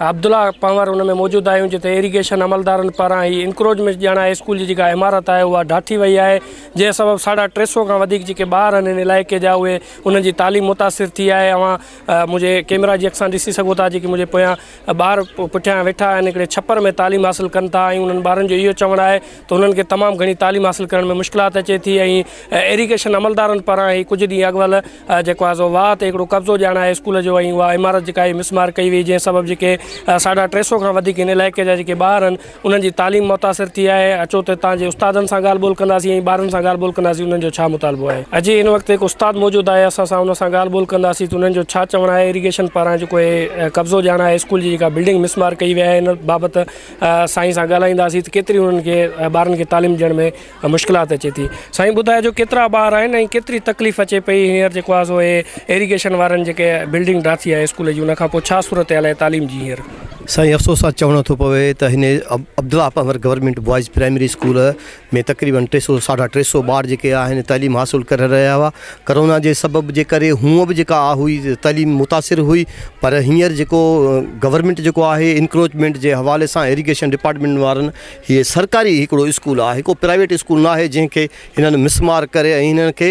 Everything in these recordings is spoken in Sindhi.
عبدالله پنهور ان ۾ موجود آهيون جتي ايريگيشن عملدارن پاران هي انڪروچمينٽ ڄاڻان هاء اسڪول جي جيڪا عمارت آهي اها ڊاٺي وئي آهي جنهن سبب ساڍا ٽي سو کان وڌيڪ جيڪي ٻار آهن ان علائقي جا اهي انهن جي تعليم متاثر ٿي آهي اوهان منهنجي ڪيمرا جي اڪسان ڏسي سگهو ٿا جيڪي منهنجي پويان ٻار پٺيان ويٺا آهن هڪڙي ڇپر ۾ تعليم حاصل ڪن ٿا ۽ انهن ٻارن جو اهو چوڻ آهي ته انهن کي تمام گهڻي تعليم حاصل ڪرڻ ۾ مشڪلات اچي ٿي ۽ ايريگيشن عملدارن پاران هي ڪجهه ڏينهن اڳ وال جيڪو آهي سو واهه تي هڪڙو قبضو ڄاڻ آهي اسڪول جو ۽ اها عمارت جيڪا آهي مسمار ڪئي وئي جنهن سبب جيڪي ساڍا ٽي سو کان وڌيڪ هن علائقي جا جيڪي ٻار آهن انهن جي تعليم متاثر ٿي آهي اچو ته تان جي استادن سان ڳالهه ٻولهه ڪنداسين ۽ ٻارن سان ڳالهه ٻولهه ڪنداسين انهن جو ڇا مطالبو آهي اڄ هن وقت هڪ استاد موجود آهي اسان سان ان سان ڳالهه ٻولهه ڪنداسين ته انهن جو ڇا چوڻ آهي ايريگيشن پاران جيڪو هي قبضو ڄاڻ آهي اسڪول جي جيڪا بلڊنگ مسمار ڪئي وئي آهي ان بابت سائين سان ڳالهائينداسين ته ڪيتري انهن کي ٻارن کي تعليم ڏيڻ ۾ مشڪلات اچي ٿي سائين ٻڌايو جو ڪيترا ٻار آهن ۽ ڪيتري تڪليف اچي پئي هينئر جيڪو آهي سو هي ايريگيشن وارن جيڪي بلڊنگ ڊاٿي آهي اسڪول جي ان کان پوء ڇا صورتحال آهي تعليم جي هينئر. سائين افسوس سان چوڻو ٿو پوي ته هن Abdullah Panhwar government boys primary school ۾ تقريبن ٽي سؤ ساڍا ٽي سؤ ٻار جيڪي آهن تعليم حاصل ڪري رهيا هئا ڪرونا جي سبب جي ڪري هونء به جيڪا آ هئي تعليم متاثر هئي پر هينئر جيڪو گورنمينٽ جيڪو آهي انڪروچمينٽ جي حوالي سان ايريگيشن ڊپارٽمينٽ وارن هيء سرڪاري هڪڙو اسڪول آهي، ڪو پرائيويٽ اسڪول ناهي جنهن کي هنن مسمار ڪري ۽ هنن کي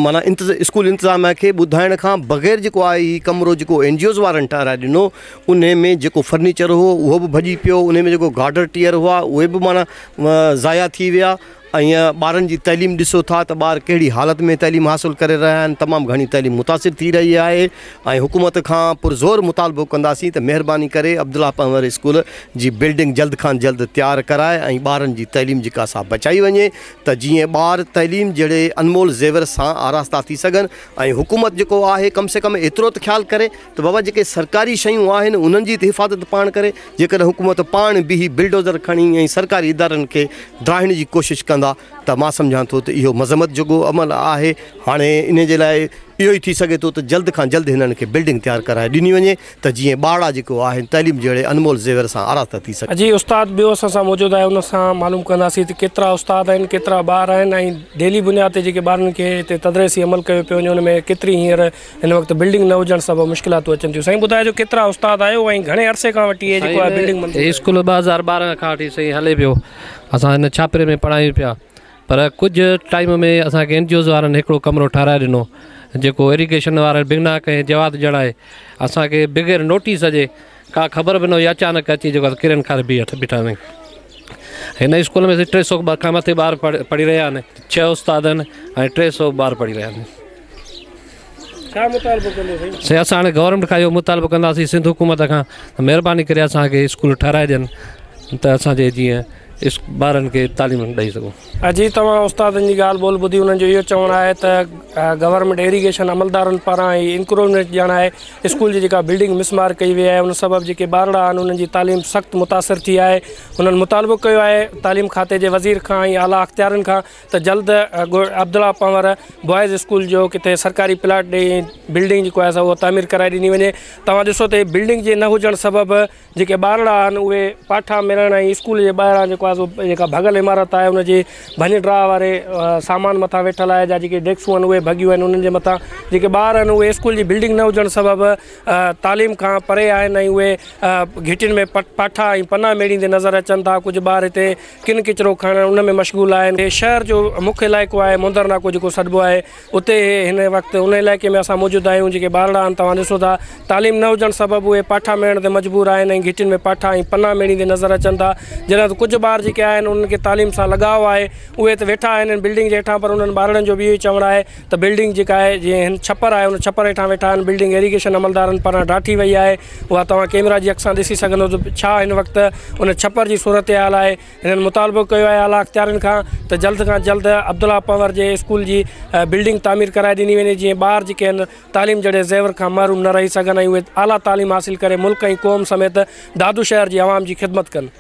معنيٰ اسڪول انتظاميا کي ٻڌائڻ کان بغير جيڪو آهي هي ڪمرو جيڪو اين جي اوز وارن ٺهرائي ڏنو انهي ۾ جيڪو فرنيچر هو اهو به ڀڄي پيو انهي ۾ جيڪو گارڊر ٽيئر هئا اهي به معنيٰ ضايع ٿي ويا ائين ٻارن جي تعليم ڏسو ٿا ته ٻار ڪهڙي حالت ۾ تعليم حاصل ڪري رهيا آهن، تمام گهڻي تعليم متاثر ٿي رهي آهي ۽ حڪومت کان پرزور مطالبو ڪنداسين ته مهرباني ڪري عبدالله پنهور اسڪول جي بلڊنگ جلد کان جلد تيار ڪرائي ۽ ٻارن جي تعليم جيڪا سا بچائي وڃي ته جيئن ٻار تعليم جهڙي انمول زيور سان آراسته ٿي سگهن ۽ حڪومت جيڪو آهي ڪم سي ڪم ايترو ته خيال ڪري. ته بابا جيڪي سرڪاري شيون آهن انهن جي ته حفاظت پاڻ ڪري جيڪڏهن حڪومت پاڻ به هي بلڊوزر کڻي ۽ سرڪاري ادارن کي ڊاهڻ جي ڪوشش ڪندا ته مان سمجهان ٿو ته اهو مذمت جوڳو عمل آهي هاڻي انهي جي لاء اهو ئي ٿي سگهي ٿو ته جلد کان جلد هنن کي بلڊنگ تيار ڪرائي ڏني وڃي ته جيئن ٻارڙا جيڪو آهن تعليم جهڙي انمول زيور سان آراسته ٿي سگهن. جي استاد ٻيو اسان سان موجود آهي ان سان معلوم ڪنداسين ته ڪيترا استاد آهن ڪيترا ٻار آهن ۽ ڊيلي بنياد تي جيڪي ٻارن کي هتي تدريسي عمل ڪيو پيو وڃي ان ۾ ڪيتري هينئر هن وقت بلڊنگ نه هجڻ سبب مشڪلاتون اچن ٿيون سائين ٻڌايو جو ڪيترا استاد آهيو ۽ گهڻي عرصي کان وٺي هي جيڪو آهي بلڊنگ منظور هي اسڪول ٻه هزار ٻارهن کان وٺي سائين هلي پيو اسان هن ڇاپري ۾ پڙهايون پيا پر ڪجهه ٽائيم ۾ اسان کي انجوز وارن هڪڙو ڪمرو ٺهرائي ڏنو جيڪو ايريگيشن وارن بنا ڪنهن جواز ڄڻائي اسان کي بغير نوٽيس جي ڪا خبر به نه هئي اچانڪ اچي جيڪو آهي ڪرين کار بيهي اٺ بيٺا سائين هن اسڪول ۾ ٽي سؤ کان مٿي ٻار پڙهي رهيا آهن ڇهه استاد آهن ۽ ٽي سؤ ٻار پڙهي رهيا آهن سائين اسان هاڻي گورنمينٽ کان اهو مطالبو ڪنداسين سنڌ حڪومت کان ته مهرباني ڪري اسان کي اسڪول ٺهرائي ڏين ته اسان جي جيئن اس ٻارن کي تعليم ڏئي سگهون. اجي توهان استادن جي ڳالهه ٻولهه ٻڌي انهن جو اهو چوڻ آهي ته گورنمينٽ ايريگيشن عملدارن پاران هي انڪروچمينٽ ڄاڻائي اسڪول جي جيڪا بلڊنگ مسمار ڪئي وئي آهي ان سبب جيڪي ٻارڙا آهن انهن جي تعليم سخت متاثر ٿي آهي انهن مطالبو ڪيو آهي تعليم کاتي جي وزير کان ۽ اعليٰ اختيارين کان ته جلد عبدالله پنور بوائز اسڪول جو ڪٿي سرڪاري پلاٽ ڏئي بلڊنگ جيڪو آهي سا اهو تعمير ڪرائي ڏني وڃي توهان ڏسو ته هي بلڊنگ جي نه هجڻ سبب جيڪي ٻارڙا آهن اهي پاٺا ملڻ ۽ اسڪول جي ٻاهران جيڪو آهي سو جيڪا ڀڳل عمارت آهي ان جي ڀڃ ڊاهه واري سامان مٿان ويٺل آهي جا جيڪي ڊيڪسون آهن اهي ڀڳيون آهن انهن جي مٿان جيڪي ٻار آهن اهي اسڪول جي بلڊنگ نه هجڻ سبب تعليم کان پري آهن ۽ اهي گهٽين ۾ پاٺا ۽ پنا ميڙيندي نظر اچن ٿا ڪجهه ٻار هتي ڪن ڪچرو کڻڻ ان ۾ مشغول آهن هي شهر جو مک علائقو آهي موندر ناڪو جيڪو سڏبو آهي اتي هن وقت ان علائقي ۾ اسان موجود آهيون جيڪي ٻارڙا آهن توهان ڏسو ٿا تعليم نه هجڻ سبب اهي پاٺا ميڙڻ تي مجبور آهن ۽ گهٽين ۾ پاٺا ۽ پنا ميڙيندي نظر اچن ٿا جڏهن ته ڪجهه ٻار جيڪي آهن انهن کي تعليم سان لڳاء آهي اهي ته ويٺا آهن ان بلڊنگ جي هيٺان پر انهن ٻارڙن جو به اهو ئي چوڻ آهي ته بلڊنگ جيڪا آهي جي هن ڇپر آهي ان ڇپر هيٺان ويٺا آهن بلڊنگ ايريگيشن عملدارن پاران ڊاٺي وئي آهي اها توهان ڪيمرا جي اک سان ڏسي سگهندو ته ڇا هن وقت ان ڇپر جي صورتحال آهي هنن مطالبو ڪيو آهي اعليٰ اختيارين کان ته جلد کان جلد عبدالله پنور جي اسڪول جي بلڊنگ تعمير ڪرائي ڏني وڃي جيئن ٻار جيڪي آهن تعليم جهڙي زيور کان محروم نه رهي سگهن ۽ اهي اعليٰ تعليم حاصل ڪري ملڪ ۽ قوم سميت دادو شهر جي عوام جي خدمت ڪن.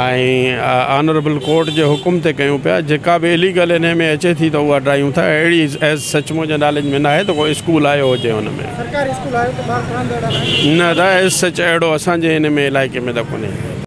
۽ آنريبل ڪورٽ جي حڪم تي ڪيون پيا جيڪا به اليگل انهي ۾ اچي ٿي ته اها ڊاهيون ٿا اهڙي ايز سچ منهن جي نالج ۾ ناهي ته ڪو اسڪول آيو هجي ان ۾ سرڪاري اسڪول آيو ته ٻار پڙهندڙ نه ته ايز سچ اهڙو اسان جي ان ۾ علائقي ۾ ته ڪونهي.